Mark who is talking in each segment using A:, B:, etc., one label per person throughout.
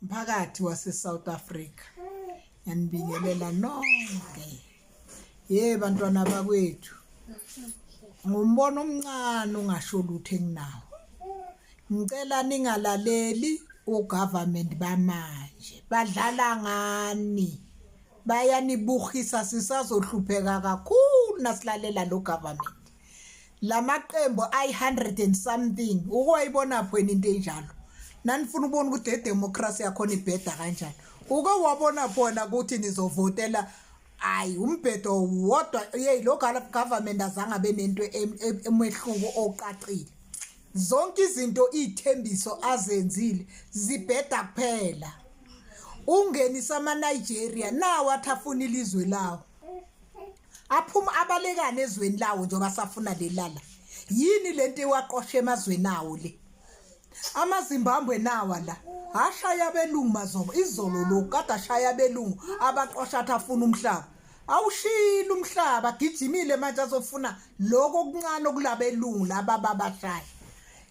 A: mphakathi waseSouth Africa ngiyanibingelela nonke ye bantwana bakwethu ngumbono omncane ungasho lutho enginawo ngicela ningalaleli ugovernment bamanje badlala ngani bayanibuhisa sisazohlupheka kakhulu nasilalela lo government lamaqembu ayi-100 and something ukwayibona phweni into enjalo nanifuna ubona ukuthi idemocracy yakhona ibheda kanjani uke wabona khona ukuthi nizovotela hayi umbhedo wodwa yeyi lo government azange abe nento emehluko oqaqile zonke izinto iy'thembiso azenzile zibheda kuphela ungenisa ama-nigeria nawo athi afuna ilizwe lawo aphuma abalekane ezweni lawo njengoba safuna lelala yini lento iwaqosha emazweni awo le amazimbambwe nawa la ashaya abelungu mazobo izolo lo kade ashaya abelungu abaqosha athi afuna umhlaba awushile umhlaba gijimile manje azofuna lokho okuncane okulabelungu laba babashaya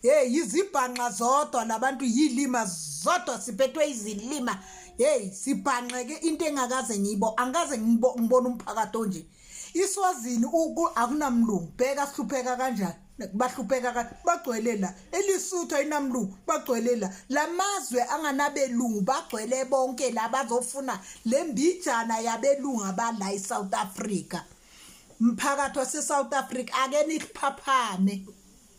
A: hey yizibhanqa zodwa labantu yilima zodwa siphethwe izilima hey sibhanqeke into engakaze ngibo angikaze ngibona umphakathi onje iswazini uku akunamlungu bheka sihlupheka kanjani bahlupheka bagcwele la elisuthu ayinamlungu bagcwele la lamazwe anganabelungu bagcwele bonke la bazofuna lembijana yabelungu abala eSouth Africa mphakathi waseSouth Africa ake niphaphame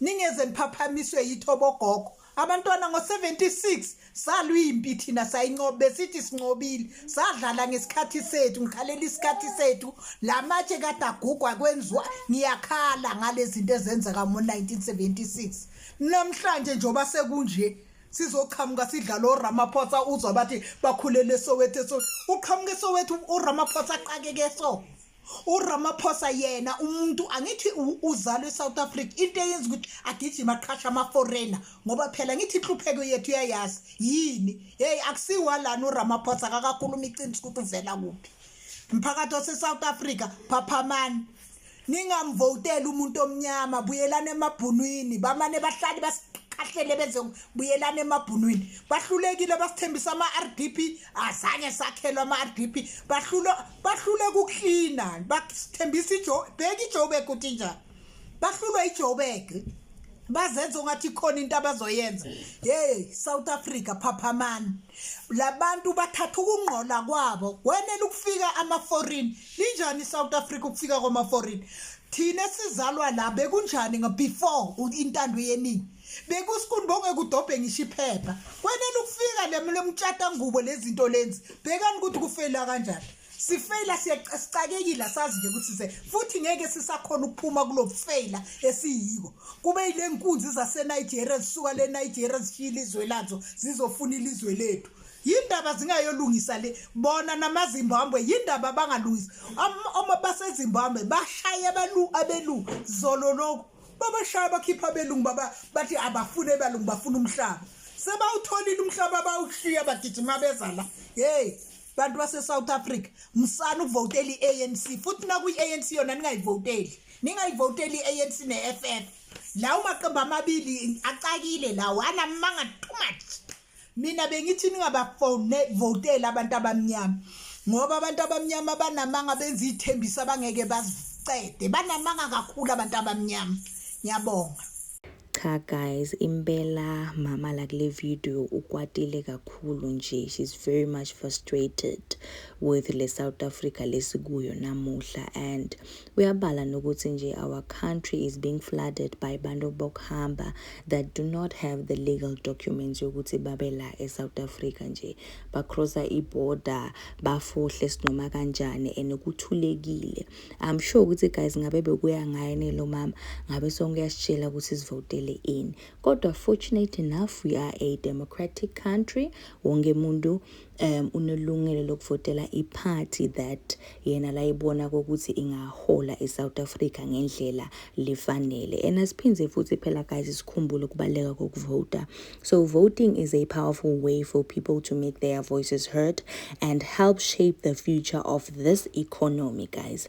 A: Ningeze niphaphamiswe yithobo gogo. Abantwana ngo-76 salwimpi thina sayincoba besithi sincobile sadlala ngesikhathi sethu ngikhalela isikhathi sethu la matshe kade agugwa kwenziwa ngiyakhala ngale zinto ezenzeka ngo-1976 namhlanje njengoba sekunje sizoqhamuka sidlala oramaphosa uzwa bathi bakhulele soweto so uqhamuke soweto uramaphosa aqakeke so uRamaphosa yena umuntu angithi uzalwe eSouth Africa into eyenza ukuthi agijima aqhasha ama-foreigner ngoba phela ngithi inhlupheko yethu uyayazi yini heyi akusiwalana uRamaphosa kakakhuluma iqiniso ukuthi uvela kuphi mphakathi ose-south africa phaphamani ningamvoteli umuntu omnyama buyelani emabhunwini bamane bahlali bakahlele benze buyelana emabhunwini bahlulekile basithembisa ama-rdp azange sakhelwa ama-rdp bahlulwa bahluleka ukuklina bathembisa ijo bheka ijobek ukuthi njani bahlulwa ijobek bazenza ungathi khona into abazoyenza hey South Africa phaphamani labantu bathatha ukungqola kwabo wenela ukufika ama foreign linjani South Africa ukufika kwama foreign thina sizalwa la bekunjani ngo before intando yeningi bekusikuni bongekudobhe ngisho iphepha kwenele ukufika lemlomtshata ngubo lezinto lenzi bhekani ukuthi kufeyila kanjani sifeyila siyacakekile asazi nje ukuthi se futhi ngeke sisakhona ukuphuma kulofeyila esiyiko kube yile nkunzi zaseNigeria zisuka leNigeria zishiya ilizwe lazo zizofuna ilizwe lethu yindaba zingayolungisa le bona namazimbabwe yindaba bangalungisa uma basezimbabwe bashaye abalu abelu zolo lokho babashaya bakhipha abelungu baba bathi abafune abalungu bafuna umhlaba sebawutholile umhlaba bawushiya bagijima beza la hey bantu base-south africa musani ukuvotela i-anc futhi nakwi-anc yona ningayivoteli ningayivoteli i-anc ne-f f lawo maqembu amabili acakile lawo anamanga too much mina bengithi ningabavoteli abantu abamnyama ngoba abantu abamnyama banamanga benza iy'thembiso abangeke bazicede banamanga kakhulu abantu abamnyama ngiyabonga cha
B: guys impela mama la kule video ukwatile kakhulu nje she's very much frustrated with le south africa lesikuyo namuhla and Uyabala nokuthi nje our country is being flooded by bantu bokuhamba that do not have the legal documents yokuthi babe la eSouth Africa nje. Bacrossa iborder, bafohle sinoma kanjani and kuthulekile. I'm sure ukuthi guys ngabe bekuya ngaye nelo mama ngabe sonke uyasitshela ukuthi sivotele ini. Kodwa fortunate enough we are a democratic country. Wonke umuntu um unelungelo lokuvotela iphathi that yena layibona kokuthi ingahola i-south africa ngendlela lifanele and asiphinde futhi phela guys sikhumbule ukubaluleka kokuvota so voting is a powerful way for people to make their voices heard and help shape the future of this economy guys